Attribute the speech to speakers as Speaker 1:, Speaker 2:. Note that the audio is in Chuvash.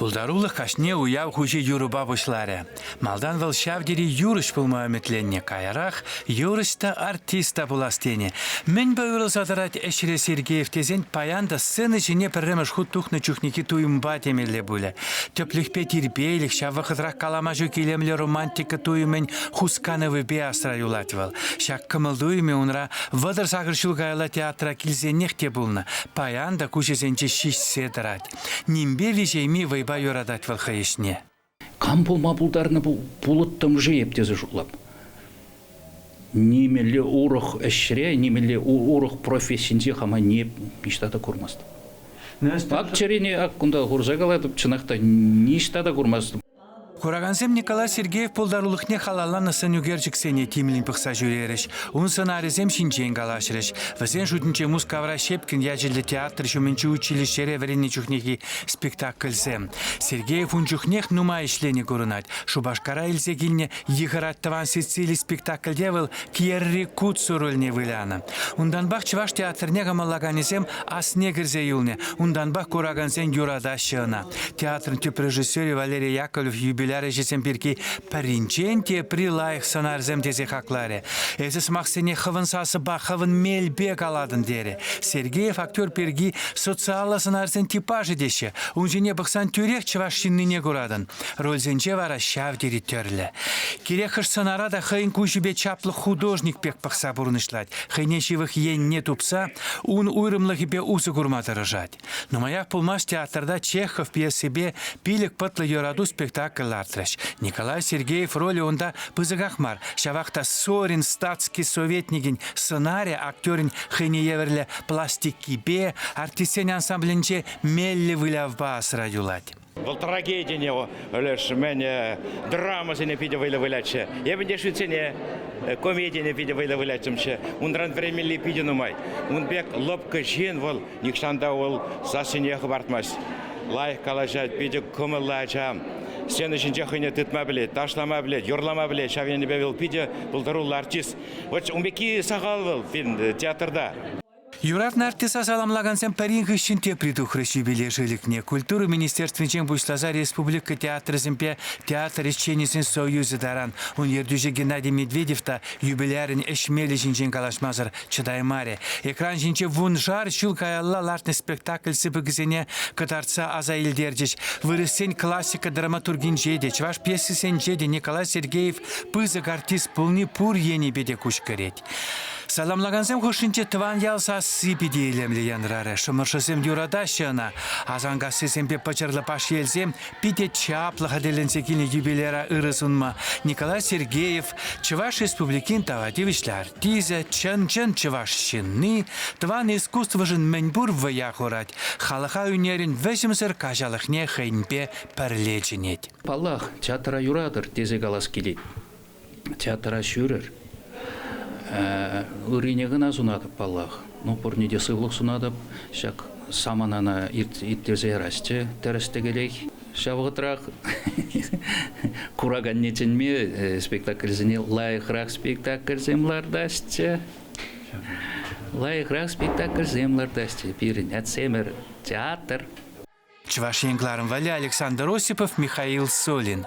Speaker 1: Пултарулӑх каҫне уяв хуҫи юрӑпа пуҫларӗ. Малтан вӑл ҫав тери юрӑҫ пулма ӗмӗтленнӗ, каярах юрӑҫ та, артист та пулас тенӗ. Мӗнпе уйрӑлса тӑрать ӗҫре Сергеев тесен паян та сцена ҫине пӗрремӗш хут тухнӑ чухнехи туйӑмпа темелле пулӗ. Тӗплӗхпе тирпейлӗх, ҫав вӑхӑтрах калама ҫук илемлӗ романтика туйӑмӗн хусканӑвӗпе асра юлать вӑл. Ҫак кӑмӑл-туйӑмӗ унра Вӑтӑр сакӑр ҫул каялла театра килсенех те пулнӑ. Паян та куҫӗсенче ҫиҫсе тӑрать. Нимпе виҫейми вӑйпа юратать вӑл хӑй ӗҫне. Кам пулма
Speaker 2: пултарнӑ пулӑттӑм-ши эп тесе шутлап. Нимелле урӑх ӗҫре, нимелле урӑх профессинче хама ниҫта та курмастӑп. Пак чӗрене ак кунта хурса калатӑп, чӑнах та ниҫта та курмастӑп. Куракансем
Speaker 1: Николай Сергеев пултарулӑхне халалланӑ сӑн ӳкерчӗксене тимлӗн пӑхса ҫӳрерӗҫ, ун сӑнарӗсем ҫинчен калаҫрӗҫ. Вӗсен шутӗнче Мускавра Щепкин ячӗллӗ театр ҫумӗнчи училищӗре вӗреннӗ чухнехи спектакльсем. Сергеев ун чухнех нумай ӗҫленӗ курӑнать. Шупашкара илсе килнӗ Йыхӑрать Тӑван Сицили спектакльте вӑл Пьерри Кутсу рольне вылянӑ. Унтанпах чӑваш театрне кӑмӑллаканӗсем асне кӗрсе юлнӑ, унтанпах куракансен юратаҫҫӗ ӑна. Театрӑн тӗп режиссерӗ Валерий Яковлев юбиляр ӗҫӗсем пирки пӗринчен тепри лайӑх сӑнарсем тесе хакларӗ. Эсӗ сӑмахсене хӑвӑн сасӑпа, хӑвӑн мелпе калатӑн терӗ. Сергеев актер пирки социаллӑ сӑнарсен типажӗ теҫҫӗ. Ун ҫине пӑхсан тӳрех чӑваш ҫыннине куратӑн. Рольсенче вара ҫав тери тӗрлӗ. Кирек-хӑш сӑнара та хӑйӗн куҫӗпе чаплӑ художник пек пӑхса пурнӑҫлать, хӑйне ҫывӑх енне тупса ун уйрӑмлӑхӗпе усӑ курма тӑрӑшать. Нумаях пулмасть театрта Чехов пьесипе пилӗк пӑтлӑ юрату спектакль лартрӗҫ. Николай Сергеев ролӗ унта пысӑках мар, ҫавах та Сорин статский советникӗн сӑнарӗ актерӗн хӑйне евӗрлӗ пластикипе, артистсен ансамблӗнче меллӗ вылявпа асра юлать. Вӑл трагедине
Speaker 3: леш мӗн драмӑсене питӗ вӑйлӑ вылятчӗ. Эпӗ те шӳтсене, комедине питӗ вӑйлӑ выляттӑмччӗ. Унран вӗренмелли питӗ нумай. Ун пек лӑпкӑ ҫын вӑл нихҫан та вӑл сассине хӑпартмасть. Лайӑх калаҫать, питӗ кӑмӑллӑ ача. Сцена ҫинче хӑйне тытма пӗлет, ташлама пӗлет, юрлама пӗлет. Ҫав енӗпе вӑл питӗ пултаруллӑ артист. Вот ун пекки сахал вӑл фильм, театрта. Юратнӑ
Speaker 1: артиста саламлакансем пӗрин хыҫҫӑн тепри тухрӗҫ юбилей шлӗкне. Культура министерствинчен пуҫласа республика театрӗсемпе театр ӗҫченӗсен союзӗ таран. Ун ертӳҫи Геннадий Медведев та юбилярӗн ӗҫмелӗ ҫинчен калаҫмасӑр чӑтаймарӗ. Экран ҫинче вуншар ҫул каялла лартнӑ спектакль сыпӑкӗсене кӑтартса аса илтерчӗҫ. Вырӑссен классика драматургинче те, чӑваш пьесисенче те Николай Сергеев пысӑк артист пулни пур енӗпе те куҫкӗрет. Саламлакансем хушшинче тӑван ял сасси питӗ илемлӗ янрарӗ. Шӑмӑршӑсем юратаҫҫӗ ӑна. Асанкассисемпе пӑчӑрлӑ Пашьелсем питӗ чаплӑ хатӗрленсе килнӗ юбиляра ырӑ сунма Николай Сергеев Чӑваш Республикин тава тивӗҫлӗ артисӗ, чӑн-чӑн чӑваш ҫынни, тӑван искусствӑшӑн мӗнпур вӑя хурать, халӑха ӳнерӗн вӗҫӗмсӗр каҫалӑхне хӑйӗнпе пӗрле чӗнет. Паллах,
Speaker 2: театра юратӑр тесе калас килет. театра ҫӳрӗр. Ыррине кӑна сунатӑп паллах. Ну, пурне те сывлӑх сунатӑп. Ҫак саманана ирттерсе ярасчӗ тӗрӗс-тӗкелех. Ҫав вӑхӑтрах кураканне чӗнме э, спектакльсене лайӑхрах спектакльсем лартасчӗ. Лайӑхрах спектакльсем лартасчӗ пирӗн Атсемер
Speaker 1: театр. Чӑваш Ен кӑларӑм валли Александр Осипов, Михаил Солин.